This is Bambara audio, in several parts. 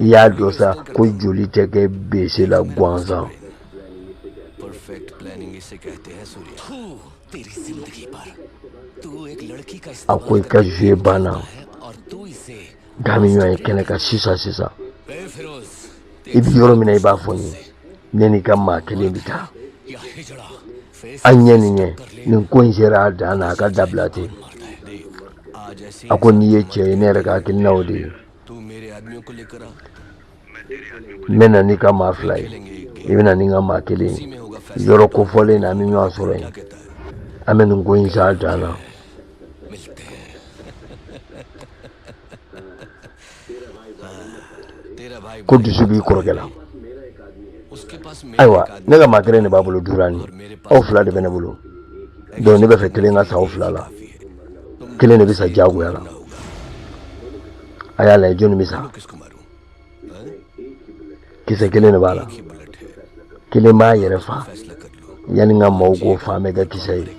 i y'a dɔn sa ko joli tɛ kɛ bese la gansan a ko i ka zuye banna d'an bi ɲɔgɔn ye kɛnɛ kan sisan sisan i bi yɔrɔ min na i b'a fɔ n ye ne n'i ka maa kelen bi taa an ɲɛ ni ɲɛ nin ko in sera a dan na a ka dabila ten a ko n'i ye cɛ ye ne yɛrɛ ka hakilinaw de ye n bɛna n'i ka maa fila ye i bɛna ni n ka maa kelen ye yɔrɔ kofɔlen na an bɛ ɲɔgɔn sɔrɔ yen an bɛ nin ko in s'a dan na ko dusu b'i kɔrɔkɛ la ayiwa ne ka maa kelen de b'a bolo durani aw fila de bɛ ne bolo donc ne b'a fɛ kelen ka sa aw fila la kelen de bɛ sa diyagoya la a y'a lajɛ jɔnni bɛ sa kisɛ kelen de b'a la kelen b'a yɛrɛ fa yanni n ka maaw k'o fa nɛgɛ kisɛ ye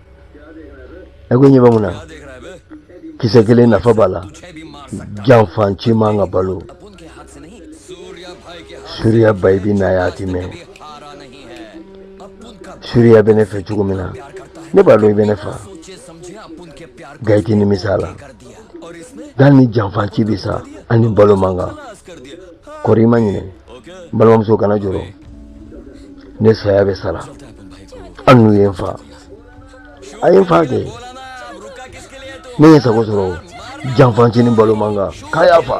ɛ ko ɲɛ bɛ mun na kisɛ kelen nafa b'a la janfanci man ka balo suriya bayi bi n'a y'a ti mɛn suriya bɛ ne fɛ cogo min na ne b'a dɔn i bɛ ne fa nka i tɛ nimisa la nka nin janfanci bɛ sa a ni balo man kan kɔri i ma ɲinɛ balimamuso kana jɔrɔ ne saya bɛ sara an n'u ye n fa a ye n fa kɛ ne ye sago sɔrɔ janfanci ni balo man kan k'a y'a fa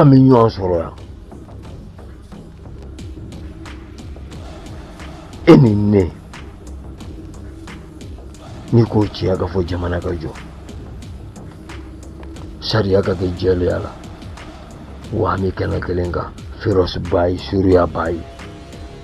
k'an bɛ ɲɔgɔn sɔrɔ yan e ni ne nin ko tiɲɛ ka fɔ jamana ka jɔ sariya ka kɛ jɛlenya la wa an bɛ kɛnɛ kelen kan ferɔsi bayi suriya bayi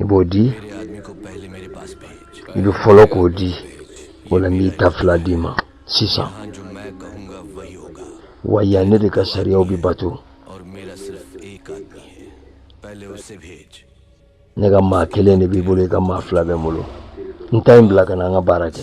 i b'o di i bɛ fɔlɔ k'o di o la n b'i ta fila d'i ma sisan wa yan ne de ka sariyaw bɛ bato ne ka maa kelen de b'i bolo i ka maa fila bɛ n bolo n ta in bila ka na an ka baara kɛ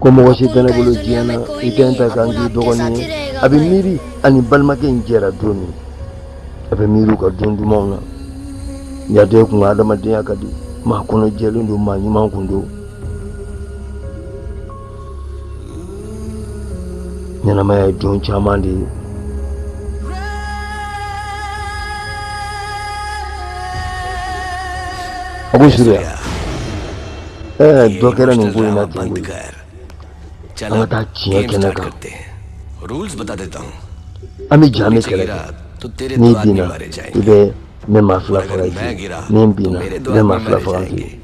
ko mɔgɔ si tɛ ne bolo diɲɛ na i tɛ n ta ka n k'i dɔgɔnin ye a bɛ miiri a ni balimakɛ in jɛra don min a bɛ miiri u ka don dumanw na yadɔ kun ka adamadenya ka di maa kɔnɔ jɛlen don maa ɲuman kun don ɲɛnamaya ye don caman de ye a ko suruya ɛɛ dɔ kɛra nin ko in na ten koyi an ka taa tiɲɛ kɛnɛ kan an bɛ ja an bɛ kɛlɛ kɛ n'i binna i bɛ ne ma fila faga i ye ni n binna ne ma fila faga i ye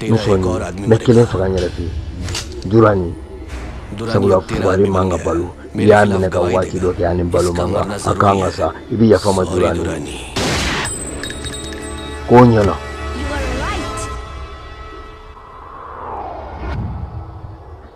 ne sɔn nin ma kelen faga n yɛrɛ fɛ duranin sabula fugari man ka balo n'i y'a minɛ ka waati dɔ kɛ a ni balo man kan a kan ka sa i bɛ yafa n ma duranin k'o ɲɛna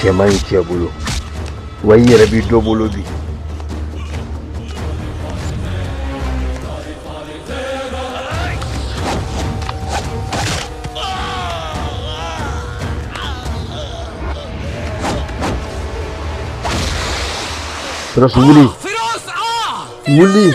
cɛ man ɲi cɛ bolo wa i yɛrɛ bɛ dɔ bolo bi Firas wuli wuli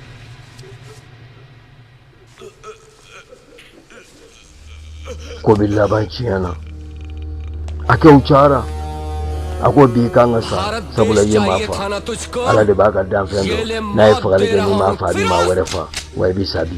ko billa baki yana a kyau cara a ko bi i ka kan ka sa sabula i ye ma fa ala de b'a ka danfɛn dɔn n'a ye fagali kɛ n'i m'a fa a bɛ ma wɛrɛ fa wa i bi sa bi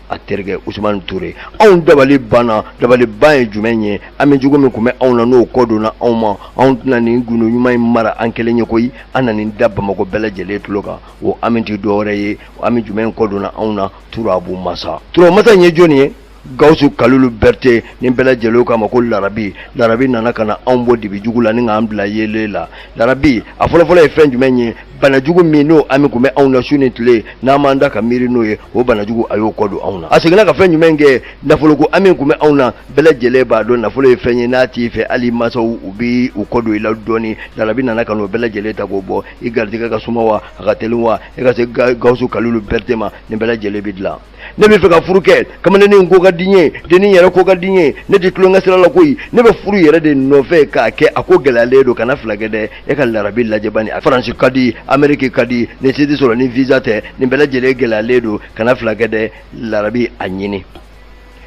a terikɛ usumani ture anw dabali banna dabaliban ye jumɛn ye hami jugu min tun bɛ anw na n'o kɔ donna anw ma anw tɛna nin gundo ɲuman in mara an kelen ye koyi an na nin da bamakɔ bɛɛ lajɛlen tulo kan o hami tɛ dɔwɛrɛ ye hami jumɛn kɔ donna anw na turabu masa turabu masa in ye jɔni ye gawusu kalilu berete nin bɛɛ lajɛlen k'a ma ko larabi larabi nana ka na anw bɔ dibi jugu la ni k'an bila yeelen la larabi a fɔlɔfɔlɔ ye fɛn jumɛn ye banajugu min n'o hami kun bɛ anw na su ni tile n'an b'an da ka miiri n'o ye o banajugu a y'o kɔ don anw na a seginna ka fɛn jumɛn kɛ nafoloko hami kun bɛ anw na bɛɛ lajɛlen b'a dɔn nafolo ye fɛn ye n'a t'i fɛ hali i masaw u bɛ u kɔ don i la dɔɔni larabi nana ka n'o bɛɛ lajɛlen ta k'o bɔ i garijɛgɛ ka suma wa a ka teli wa e ka se gawusu kalilu berete ma nin bɛɛ lajɛlen bɛ dilan ne bɛ fɛ ka furu kɛ kamalennin ko ka di n ye dennin yɛrɛ ko ka di n ye ne tɛ tulonkɛ sira la koyi ne bɛ furu yɛrɛ de nɔfɛ k'a kɛ a ko gɛlɛyalen don kana fila kɛ dɛ e ka larabi lajɛ bani a faransi ka di ameriki ka di nin si tɛ sɔrɔ ni visa tɛ nin bɛɛ lajɛlen gɛlɛyalen don kana fila kɛ dɛ larabi a ɲini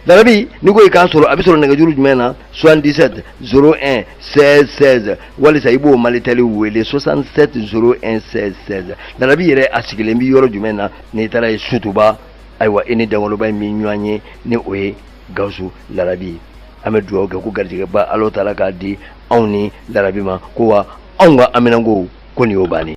larabi n'i ko i k'a sɔrɔ a bɛ sɔrɔ nɛgɛjuru jumɛn na 77 01 16 16 walisa i b'o malitɛli wele 67 01 16 16 larabi yɛrɛ a sigilen bɛ yɔrɔ jumɛn na n'i taara ye sotuba ayiwa i ni dangoloba in bɛ ɲɔgɔn ye ni o ye gawusu larabi ye an bɛ dugawu kɛ ko garijɛgɛba ala taala k'a di anw ni larabi ma ko wa anw ka aminanko ko nin y'o bannen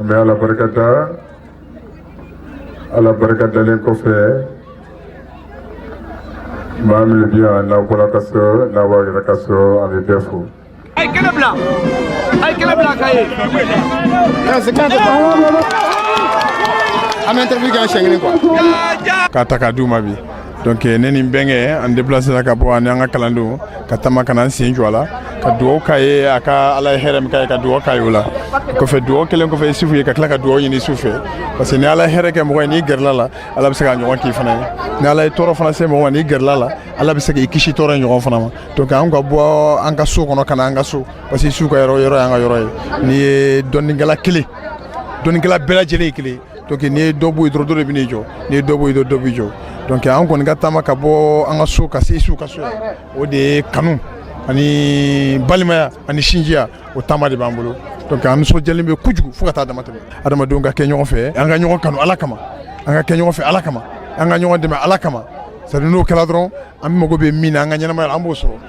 An bɛ Ala barika da, Ala barika dalen kɔfɛ, maa minnu bɛ yan n'aw bɔra ka so n'a b'aw yɛrɛ ka so an bɛ bɛɛ fo. A ye kɛnɛ bila, a ye kɛnɛ bila ka ye. An bɛ interview kɛ yan siɲɛ kelen quoi. K'a ta k'a d'u ma bi. donc eh, ne ni n bɛnkɛ an depilasera ka bɔ ani an ka kalandenw ka taama ka na n sen jɔ a la ka dugawu k'a ye a ka ala ye hɛrɛ min k'a ye ka dugawu k'a ye o la kɔfɛ dugawu kɛlen kɔfɛ isufu ye ka tila ka dugawu ɲini su fɛ parce que ni ala ye hɛrɛ kɛ mɔgɔ ye n'i gɛrɛla la ala bɛ se k'a ɲɔgɔn k'i fana ye ni ala ye tɔɔrɔ fana se mɔgɔ ma n'i gɛrɛla la ala bɛ se k'i kisi tɔɔrɔ in ɲɔgɔn fana ma donc an ka bɔ an ka so kɔnɔ ka na an ka so parce que su ka yɔrɔ yɔrɔ y'an ka yɔrɔ ye n'i ye dɔnnikɛla kelen dɔnnikɛla bɛɛ lajɛlen ye kelen donc n'i ye dɔ bɔ yen dɔrɔn dɔ de bɛ n'i jɔ n'i ye dɔ bɔ yen dɔrɔn dɔ b'i jɔ donc an kɔni ka taama ka bɔ an ka so ka se su ka so o de ye kanu ani balimaya ani sinjiya o taama de b'an bolo donc an nisɔndiyalen bɛ kojugu fo ka taa damatɛmɛ adamadenw ka kɛ ɲɔgɔn fɛ an ka ɲɔgɔn kanu ala kama an ka kɛ ɲɔgɔn fɛ ala kama an ka ɲɔgɔn dɛmɛ ala kama c'est à dire n'o kɛra dɔrɔn an mago bɛ min na an ka ɲɛnamaya la an b'o sɔrɔ